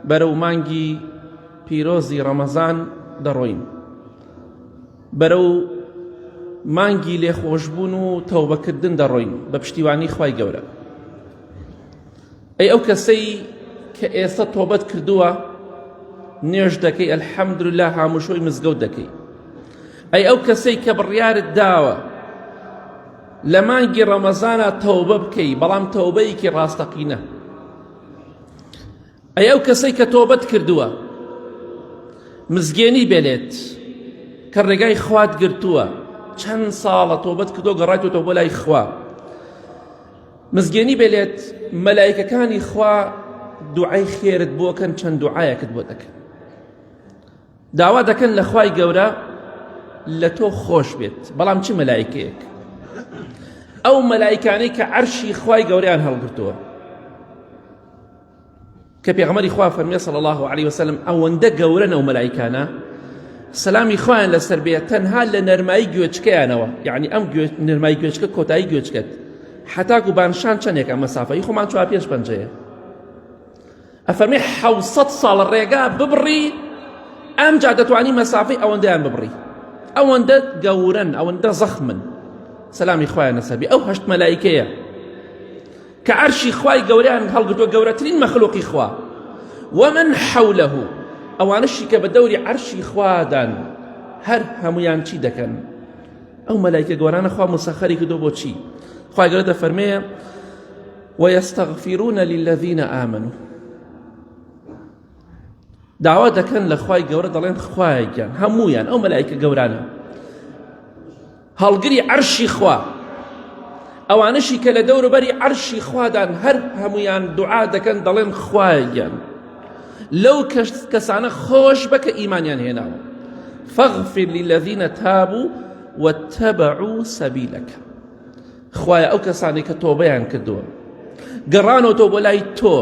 بەرەو مانگی پیرۆزی ڕەمەزان دەڕۆین بەرەو مانگی لێخۆشبوون و تەوبەکردن دەڕۆین بە پشتیوانی خی گەورە ئەی ئەو کەسەی کە ئێستا تۆبەت کردووە نوێژ دەکەی ئەلحەمدرلا هاموشۆی مزگەوت دەکەی ئەی ئەو کەسەی کە بڕیارت داوە لە مانگی ڕەمەزانا تەوبە بکەی بەڵام تەوبەیەکی ڕاستەقینە ئەی ئەو کەسەی کە تۆبەت کردووە مزگێنی بێنێت کە ڕێگای خوات گرتووە چەند ساڵە تۆبەت کردو گەڕایتەوە بۆ لای خوا مزگێنی بێلێت مەلایکەکانی خوا دوعای خێرت بۆکەن چەند دوعاەکت بۆ دەکەن داوا دەکەن لە خوای گەورە لە تۆ خۆش بێت بەڵام چ مەلایکەیەک ئەو مەلایکانەی کە عەرشی خوای گەوریان هەڵگرتووە کە پێغمەری خوا فەرمیێ سەڵ الله عليه وسلم ئەوەندە گەورە نەو مەلایکانە سەلامی خۆیان لەسەر بێت تەنها لە نەرمایی گوێچکەیانەوە یعنی ئەم نرمای گوێچکە کۆتایی گوێچکەت حتاکو بانشان چەندێکە مەسافەی خۆمان چوار پێش پەنجەیە ئەفەرمێ حەوسەت ساڵ ڕێگا ببڕی ئەمجا دەتوانی مەسافەی ئەوەندەیان ببڕی ئەوەندە گەورن ئەوەندە زەخمن سەلامی خوایە نەسەبی ئەو هەشت مەلایکەیە کە عەرشی خوای گەوریان هەڵگرتووە گەورەترین مەخلوقی خوا ومن حوله ئەوانشی کە بە دەوری عەرشی خوادان هەر هەمویان چی دەکەن ئەو مەلایکە گەورانە خوا مسەخەری کردو بۆچی خوای گەورە دەفەرمەیە ویستغفرون للذین آمنوا داوا دەکەن لە خوای گەورە دەڵێن خوایە گیان هەمویان ئەو مەلایکە گەورانە هەڵگری عەرشی خوا ئەوانشی کە لە دەوروبەری عەرشی خوادان هەر هەمویان دوعا دەکەن دەڵێن خوایە گیان لەو کەسانە خۆش بەکە ئیمانیان هێناوە فاغفر للذین تابوا واتبعوا سبیلەکە خوایە ئەو کەسانەی کە تۆبەیان کردووە گەڕانەوەتەوە بۆ لای تۆ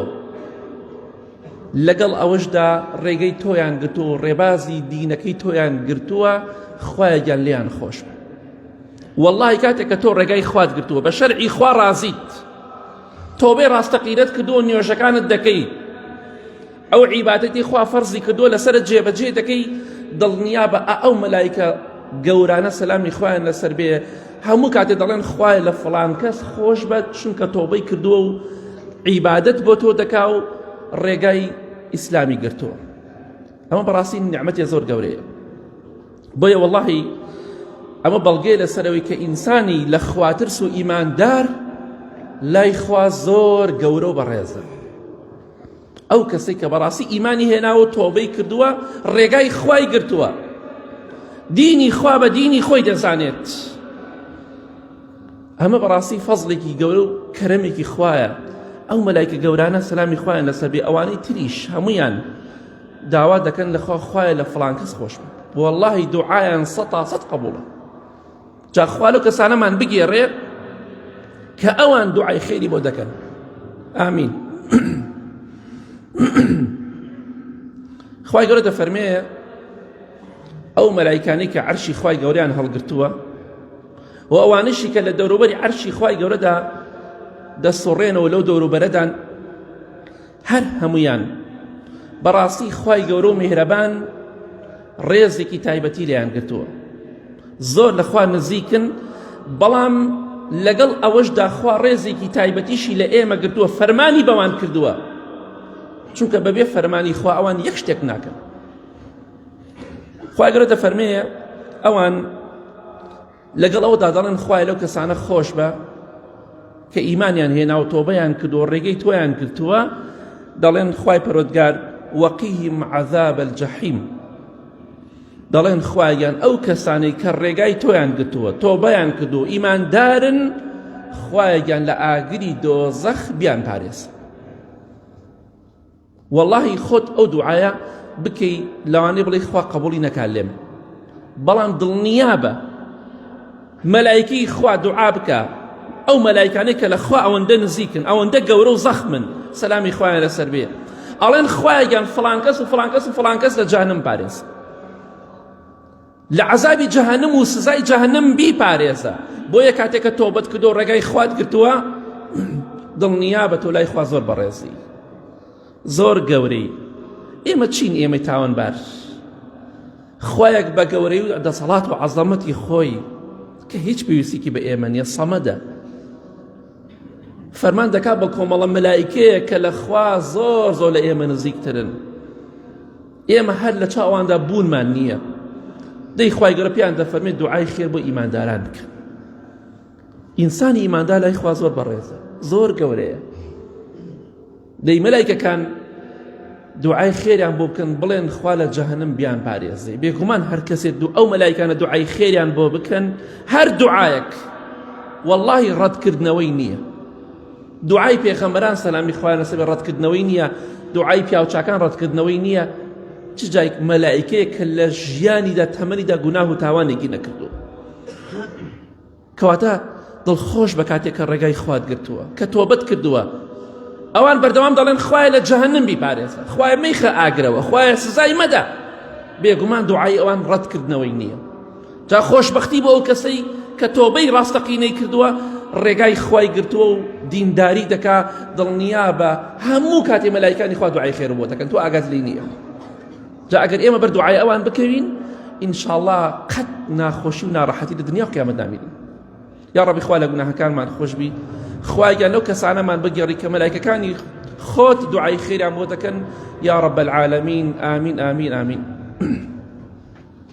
لەگەڵ ئەوەشدا ڕێگەی تۆیان گرتووە و ڕێبازی دینەکەی تۆیان گرتووە خوایە گیان لیان خۆش بە واللهی کاتێک کە تۆ ڕێگای خوات گرتووە بە شەرعی خوا ڕازیت تۆبێ ڕاستەقیرەت کردووە نوێژەکانت دەکەی ئەو عیبادەتی خوا فەرزی کردووە لەسەر جێبەجێ دەکەی دڵنیابە ئەو مەلایکە گەورانە سەلامی خوایان لەسەر بێ هەموو کاتێ دەڵێن خوای لە فڵان کەس خۆش بە چونکە تۆبەی کردووە و عیبادت بۆ تۆ دەکا و ڕێگای ئیسلامی گرتووە ئەمە بەڕاستی نعممەتی زۆر گەورەیە بۆیە وەڵی ئەمە بەڵگەی لەسەرەوەی کە ئینسانی لە خواترس و ئیماندار لای خوا زۆر گەورە و بەڕێزە ئەو کەسەی کە بەڕاستی ئیمانی هێناوە و تۆبەی کردووە ڕێگای خوای گرتووە دینی خوا بە دینی خۆی دەزانێت ئەمە بەڕاستی فەزلێکی گەورە و کەرەمێکی خوایە ئەو مەلایکە گەورانە سەلامی خوایان لەسەبێ ئەوانەی تریش هەمویان داوا دەکەن لەخوا خوایە لە فلان کەس خۆش بوو واللهی دوعایان سەتا سەد قبوڵە جا خوا لەو کەسانەمان بگێڕێ کە ئەوان دوعای خێری بۆ دەکەن ئامین خی گەورە دەفەرمێ ئەو مەلایکانی کە عەرشی خی گەوریان هەڵگرتووە و ئەوانشی کە لە دەوروبەری عەرشی خی گەورەدا دەسوڕێنەوە لەو دەوروبەرەدان هەر هەموویان بەڕاستی خوای گەورە و میهرەبان ڕێزێکی تایبەتی لێیان گرتووە زۆر لەخوا نزیکن بەڵام لەگەڵ ئەوەشدا خوا ڕێزێکی تایبەتیشی لە ئێمە گرتووە فەرمانی بەوان کردووە چونکە بەبێ فەرمانی خوا ئەوان یەک شتێک ناکەن خواگەرە دەفەرمەیە ئەوان لەگەڵ ئەوەدا دەڵێن خوایە لەو کەسانە خۆش بە کە ئیمانیان هێنا و تۆبەیان کرد و ڕێگەی تۆیان گرتووە دەڵێن خوای پەرۆتگار وەقیهم عذاب الجحیم دەڵێن خوایان ئەو کەسانەی کە ڕێگای تۆیان گرتووە تۆبەیان کرد و ئیماندارن خوایان لە ئاگری دۆزەخ بیان پارێز وەڵاهی خۆت ئەو دوعایە بکەی لەوانەیە بڵێی خوا قبوڵی نەکا لێم بەڵام دڵنیابە مەلایکی خوا دوعا بکە ئەو مەلایکانەی کە لە خوا ئەوەندە نزیکن ئەوەندە گەورە و زەخمن سەلامی خوایان لەسەر بێ ئەڵێن خوایەگەن فڵانکەس و فڵانکەس و فڵانکەس لە جانم پارێز لە عەزابی جەهەنم و سزای جەهەنم بیپارێزە بۆیە کاتێک کە تۆبەت کردو ڕێگای خوات گرتووە دڵنیا بە تۆ لای خوا زۆر بەڕێزی زۆر گەورەی ئێمە چین ئێمەی تاوانبار خوایەک بە گەورەی و دەسەڵات و عەزەمەتی خۆی کە هیچ پێویستێکی بە ئێمە نیە سەمەدە فەرمان دەکا بە کۆمەڵە مەلایکەیە کە لە خوا زۆر زۆر لە ئێمە نزیکترن ئێمە هەر لە چاو ئەواندا بوونمان نییە دەی خوای گەورە پێیان دەفەرمێت دوعای خێر بۆ ئیمانداران بکە ئینسانی ئیماندار لای خوا زۆر بەڕێزە زۆر گەورەیە دەی مەلایکەکان دوعای خێریان بۆ بکەن بڵێن خوا لە جەهنم بیان پارێزێ بێگومان هەر کەسێت دوو ئەو مەلایکانە دوعای خێریان بۆ بکەن هەر دوعاەک واللهی ڕەتکردنەوەی نییە دوعای پێخەمبەران سەلامی خوایان لەسەر بێ ڕەتکردنەوەی نییە، دوعای پیاوچاکان ڕەتکردنەوەی نییە، چ جای مەلائیکەیەک کە لە ژیانیدا تەمەنیدا گوناه و تاوانێکی نەکردووە کەواتە دڵخۆش بە کاتێک کە ڕێگای خوات گرتووە کە تۆبەت کردووە ئەوان بەردەوام دەڵێن خوای لە جەهنم بیپارێزە خوای میخە ئاگرەوە خوای سزای مەدە بێگومان دوعای ئەوان ڕەتکردنەوەی نییە جا خۆشبەختی بۆ ئەو کەسەی کە تۆبەی ڕاستەقینەی کردووە ڕێگای خوای گرتووە و دینداری دەکا دڵنیا بە هەموو کاتێ مەلایکانی خوا دوعای خێر بۆ دەکەن تۆ ئاگات لی نییە جا ئەگەر ئێمە بەر دوعای ئەوان بکەوین ئینشاءڵا قەت ناخۆشی و ناڕەحەتی لە دنیا قیامەت نامینین یا ڕەبی خوا لە گوناهەکانمان خۆشببی خوایگەن لەو کەسانەمان بگەڕی کە مەلایکەکانی خۆت دوعای خێریان بۆ دەکەن یا ڕەب العالمین ئامین ئامین ئامین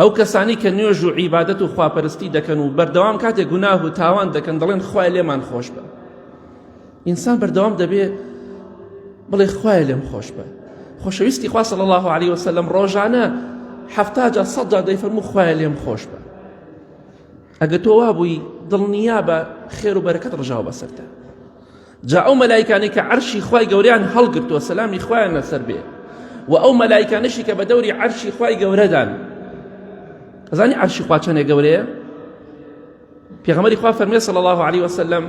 ئەو کەسانەی کە نوێژ و عیبادەت و خواپەرستی دەکەن و بەردەوام کاتێک گوناه و تاوان دەکەن دەڵێن خوای لێمان خۆش بە ئینسان بەردەوام دەبێ بڵێ خوای لێم خۆش بە خۆشەویستی خوا صلی الله علیه وسلم ڕۆژانە حەفتا جا سەد جا دەیفەرموو خوای لێم خۆش بە ئەگە تۆ وابووی دڵنیا بە خێر و بەرەکەت ڕژاو بەسەرتە جا ئەو مەلایکانەی کە عەرشی خوای گەورەیان هەڵگرتووە سەلامی خوایان لەسەر بێ و ئەو مەلایکانەشی کە بە دەوری عەرشی خوای گەورەدان ئەزانی عەرشی خوا چەندێ گەورەیە پێغەمەری خوا فەرمێ صلی الله علیه وسلم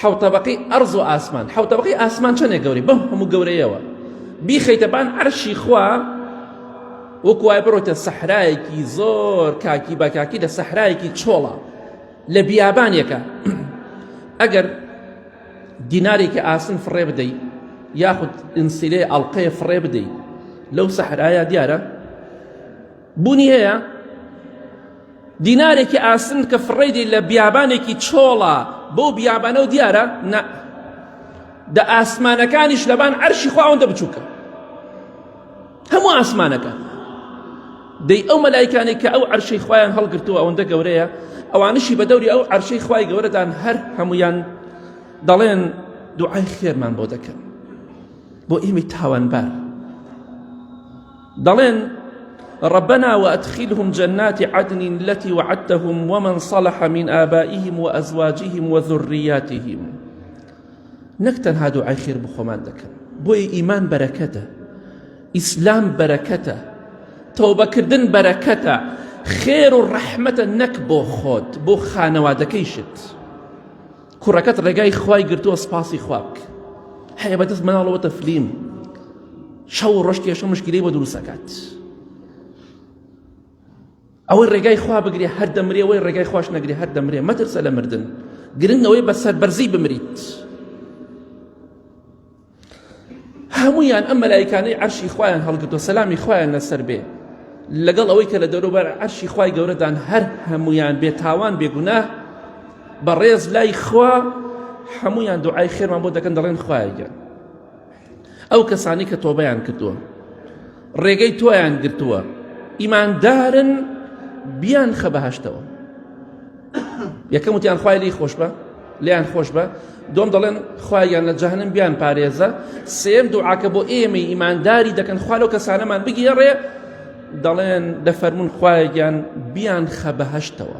حەو طبقی ئەرز و ئاسمان حەو طبقی ئاسمان چەندێ گەوری بەم هەموو گەورەیەوە بیخەیتە بان عەرشی خوا وەکوای بڕۆتە سەحرایەکی زۆر کاکی بەکاکی لە سەحرایەکی چۆڵە لە بیابانێکە ئەگەر دینارێکی ئاسن فڕێ بدەی یاخود ئینسیلێ ئەڵلقەیە فڕێ بدەی لەو سەحرایا دیارە بوونی هەیە دینارێکی ئاسن کە فڕێدی لە بیابانێکی چۆڵە بۆ بیابانە و دیارە نە دە ئاسمانەکانیش لەبان عەرشی خواوەندە بچووکە هەموو ئاسمانەکان دەی ئەو مەلایکانی کە ئەو عەرشەی خوایان هەڵگرتووە ئەوەندە گەورەیە ئەوانشی بە دەوری ئەو عەرشەی خوای گەورەدان هەر هەمویان دەڵێن دوعای خێرمان بۆ دەکەن بۆ ئێمەی تاوانبار دەڵێن ربنا وأدخلهم جنات عدن التي وعدتهم ومن صلح من آبائهم وأزواجهم وذرياتهم نەک تەنها دوعای خێر بۆ خۆمان دەکەن بۆیە ئیمان بەرەکەتە ئیسلام بەرەکەتە تەوبەکردن بەرەکەتە خێر و ڕەحمەتە نەک بۆ خۆت بۆ خانەوادەکەیشت کوڕەکەت ڕێگای خوای گرتووە سپاسی خواک هەیە بەدەست مناڵەوە تەفلیم شەو ڕۆژ کێشە مشکلی بۆ دروستەکات ئەوەی ڕێگای خوا بگرێ هەر دەمرێ وەی ڕێگای خواش نەگرێ هەر دەمرێ مەترسە لە مردن گرنگ ئەوەی بە سەربەرزی بمریت هەمویان ئەم مەلایکانەی عەرشی خوایان هەڵگرتو سەلامی خوایان لەسەر بێ لەگەڵ ئەوەی کە لە دەوروبەر عەرشی خوای گەورەدان هەر هەمویان بێ تاوان بێگونا بەڕێز لای خوا هەمویان دوعای خێرمان بۆ دەکەن دەڵێن خوایگە ئەو کەسانەی کە تۆبەیان کردووە ڕێگەی تۆیان گرتووە ئیماندارن بیان خە بەهشتەوە یەکەم وتیان خوای لی خۆش بە لیان خۆش بە دوم دەڵێن خوایان لە جەهنم بیان پارێزە سێم دوعاکە بۆ ئێمەی ئیمانداری دەکەن خوا لەو کەسانەمان بگێڕێ دەڵێن دەفەرمونون خوایەکیان بیان خە بەهشتەوە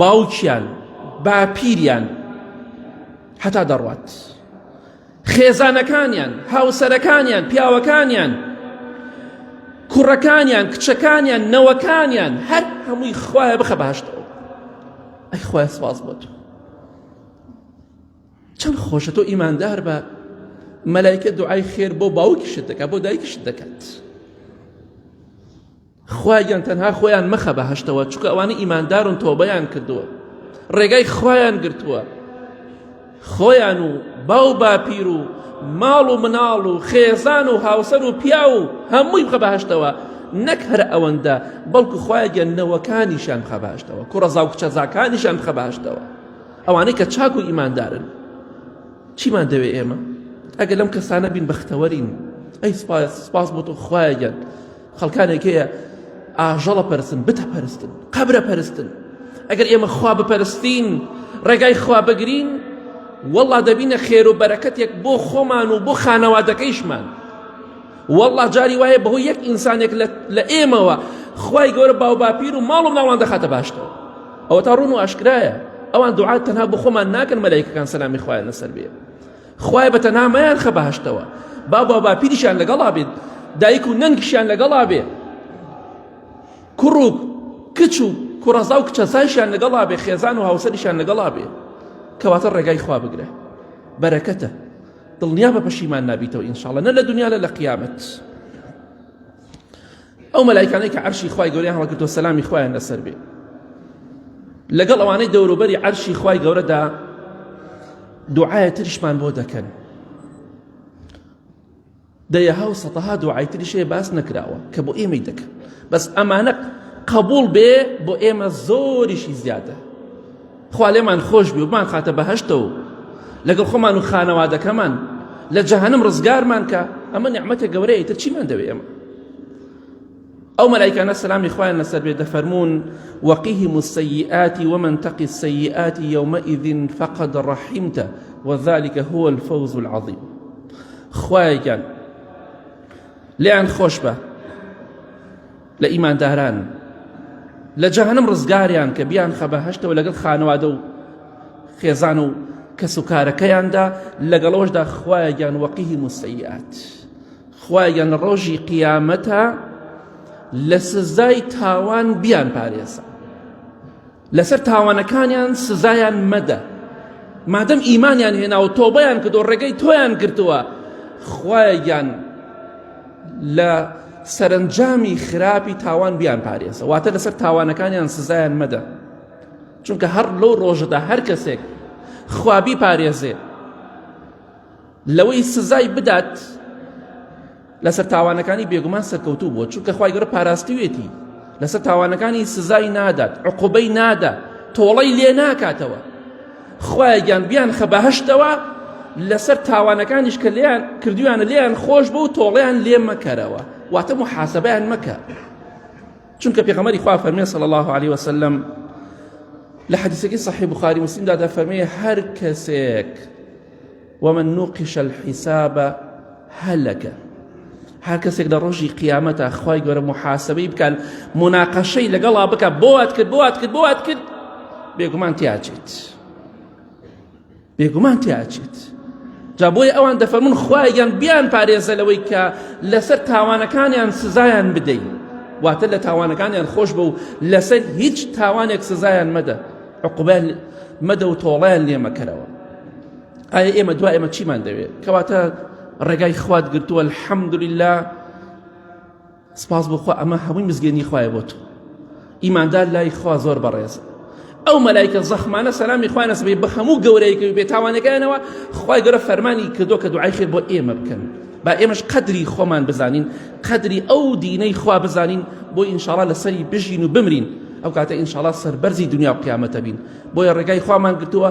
باوکیان باپیریان هەتا دەڕوات خێزانەکانیان هاوسەرەکانیان پیاوەکانیان کوڕەکانیان کچەکانیان نەوەکانیان هەر هەمووی خوایە بخە باشتەوە ئەی خوای سپاس بۆ تۆ چەند خۆشە تۆ ئیماندار بە مەلایکە دوعای خێر بۆ باوکیشت دەکات بۆ دایکیشت دەکات خوایان تەنها خۆیان مەخە بە هەشتەوە چکە ئەوانە ئیماندارون تۆبەیان کردووە ڕێگای خوایان گرتووە خۆیان و باو باپیر و ماڵ و مناڵ و خێزان و هاوسەر و پیا و هەمووی بخە بەهشتەوە نەک هەر ئەوەندە بەڵکو خوایگەن نەوەکانیشان بخە باشتەوە کوڕەزا و کچەزاکانیشان بخە باشتەوە ئەوانەی کە چاک و ئیماندارن چیمان دەوێ ئێمە ئەگەر لەم کەسانە بین بەختەوەرین ئەی سپاس سپاس بۆ تۆ خوایگەن خەڵکانێک هەیە ئاژەڵە پەرستن بتە پەرستن قەبرە پەرستن ئەگەر ئێمە خوا بپەرستین ڕێگای خوا بگرین والله دەبینە خێر و بەرەکەتێک بۆ خۆمان و بۆ خانەوادەکەیشمان والله جاری وایە بەهۆی یەک ئینسانێک لە ئێمەوە خوای گەورە باو باپیر و ماڵ و ناوان دەخاتە باشتەوە ئەوە تا ڕون و ئاشکرایە ئەوان دوعات تەنها بۆ خۆمان ناکەن مەلایکەکان سەلامی خوایان لەسەر بێ خوایە بەتەنها مەیانخە بەهەشتەوە باب و باپیریشیان لەگەڵا بێت دایک و نەنکیشیان لەگەڵا بێ کوڕ و کچ و کوڕەزا و کچەسایشیان لەگەڵا بێ خێزان و هاوسەریشیان لەگەڵا بێ کەواتە ڕێگای خوا بگرە بەرەکەتە دڵنیا بە پەشیمان نابیتەوە ئینشاڵە نە لە دنیا لە لە قیامەت ئەو مەلایکانەی کە عەرشی خوای گەورەیان هەڵگرتووە سەلامی خوایان لەسەر بێ لەگەڵ ئەوانەی دەوروبەری عەرشی خوای گەورەدا دوعایە تریشمان بۆ دەکەن دەیەها و سەتەها دوعای تریشەیە باس نەکراوە کە بۆ ئێمەی دەکەن بەس ئەمانە قبول بێ بۆ ئێمە زۆریشی زیادە خوا لێمان خۆش بێ و بمانخاتە بەهەشتەوە و لەگەڵ خۆمان و خانەوادەکەمان لە جەهەنم ڕزگارمان کە ئەمە نیعمەتە گەورەیە ئیتر چیمان دەوێ ئێمە ئەو مەلایکانە سەلامی خوایان لەسەر بێ دەفەرمونون وەقیهم السیئات ومن تقی السیئات یومئذ فقد رحمتە وذلك هو الفوز العظیم خوایەکان لێیان خۆش بە لە ئیمانداران لە جەهەنم ڕزگاریان کە بیان خە بەهشتەوە لەگەڵ خانەوادە و خێزان و کەس و کارەکەیاندا لەگەڵەوەشدا خوایەگیان وەقیهی موسەیات خوایان لە ڕۆژی قیامەتە لە سزای تاوان بیان پارێزە لەسەر تاوانەکانیان سزایان مەدە مادەم ئیمانیان هێناوە تۆبەیان کردو ڕێگەی تۆیان گرتووە خوایە گیان لە سەرنجامی خراپی تاوان بیان پارێزە واتە لەسەر تاوانەکانیان سزایان مەدە چونکە هەر لەو ڕۆژەدا هەر کەسێک خوابی پارێزێ لەوەی سزای بدات لەسەر تاوانەکانی بێگومان سەرکەوتوو بووە چونکە خوای گەورە پاراستوێتی لەسەر تاوانەکانی سزای نادات عقوبەی نادا تۆڵەی لێ ناکاتەوە خوای گیان بیان خە بەهشتەوە لەسەر تاوانەکانیش کە لێیان کردویانە لێیان خۆش بوو تۆڵیان لێ مەکەرەوە واتە محاسبیان مەکە چونکە پێغەمەری خوا فەرمێ صلی الله عليه وسلم لە حەدیسەکەی صحیح بخاری مسلمدا دەفەرمێ هەر کەسێک ومن نوقش الحساب هەلەکە هەر کەسێک لە ڕۆژی قیامەتە خی گەورە محاسبەی بکەن مناقەشەی لەگەڵا بکە بۆات کرد بۆات کرد بۆات کرد بێگومان تیاچێت بێگومان تیاچێت جا بۆی ئەوان دەفەرمون خوایان بیان پارێزە لەوەی کە لەسەر تاوانەکانیان سزایان بدەین واتە لە تاوانەکانیان خۆش بە و لەسەر هیچ تاوانێک سزایان مەدە عقوبە مەدە و تۆڵیان لێمەکەرەوە ئایا ئێمە دوا ئێمە چیمان دەوێت کەواتە ڕێگای خوات گرتووە الحەمدللا سپاس بخوا ئەمە هەمووی مزگەنی خوایە بۆ تۆ ئیماندار لای خوا زۆر بەڕێز ئەو مەلایکە زەخمانە سەلامی خوانە سبەی بە هەموو گەورەیەکە و بێتاوانەکەیانەوە خی گەرە فەرمانی کردو کە دوعای خێر بۆ ئێمە بکەن با ئێمەش قەدری خۆمان بزانین قەدری ئەو دینەی خوا بزانین بۆ ئینشاڵا لەسەری بژین و بمرین ئەو کاتە ئینشاڵا سەربەرزی دنیا و قیامەتە بین بۆیە ڕێگای خوامان گرتووە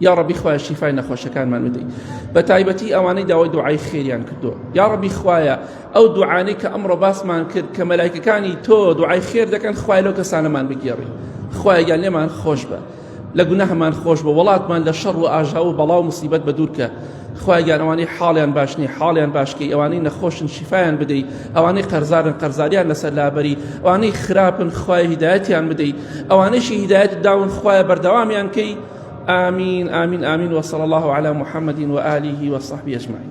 یا ڕەبی خوایە شیفای نەخۆشەکانمان بدەی بە تایبەتی ئەوانەی داوای دوعای خێریان کردو یا ڕەبی خوایە ئەو دوعانەی کە ئەمڕۆ باسمان کرد کە مەلایکەکانی تۆ دوعای خێر دەکەن خوای لەو کەسانەمان بگێڕی خوایەگەیان لێمان خۆش بە لە گوناهمان خۆش بە وڵاتمان لە شەڕ و ئاژاو و بەڵاو مسیبەت بە دوورکە خوایە گیان ئەوانەی حاڵیان باش نییە حاڵیان باشکەی ئەوانەی نەخۆشن شیفایان بدەیت ئەوانەی قەرزارن قەرزاریان لەسەر لابەری ئەوانەی خراپن خوای هیدایەتیان بدەیت ئەوانەیشی هیدایەت داون خوایە بەردەوامیان کەی آمین آمین آمین وصلى الله على محمد وآله وصحبه أجمعين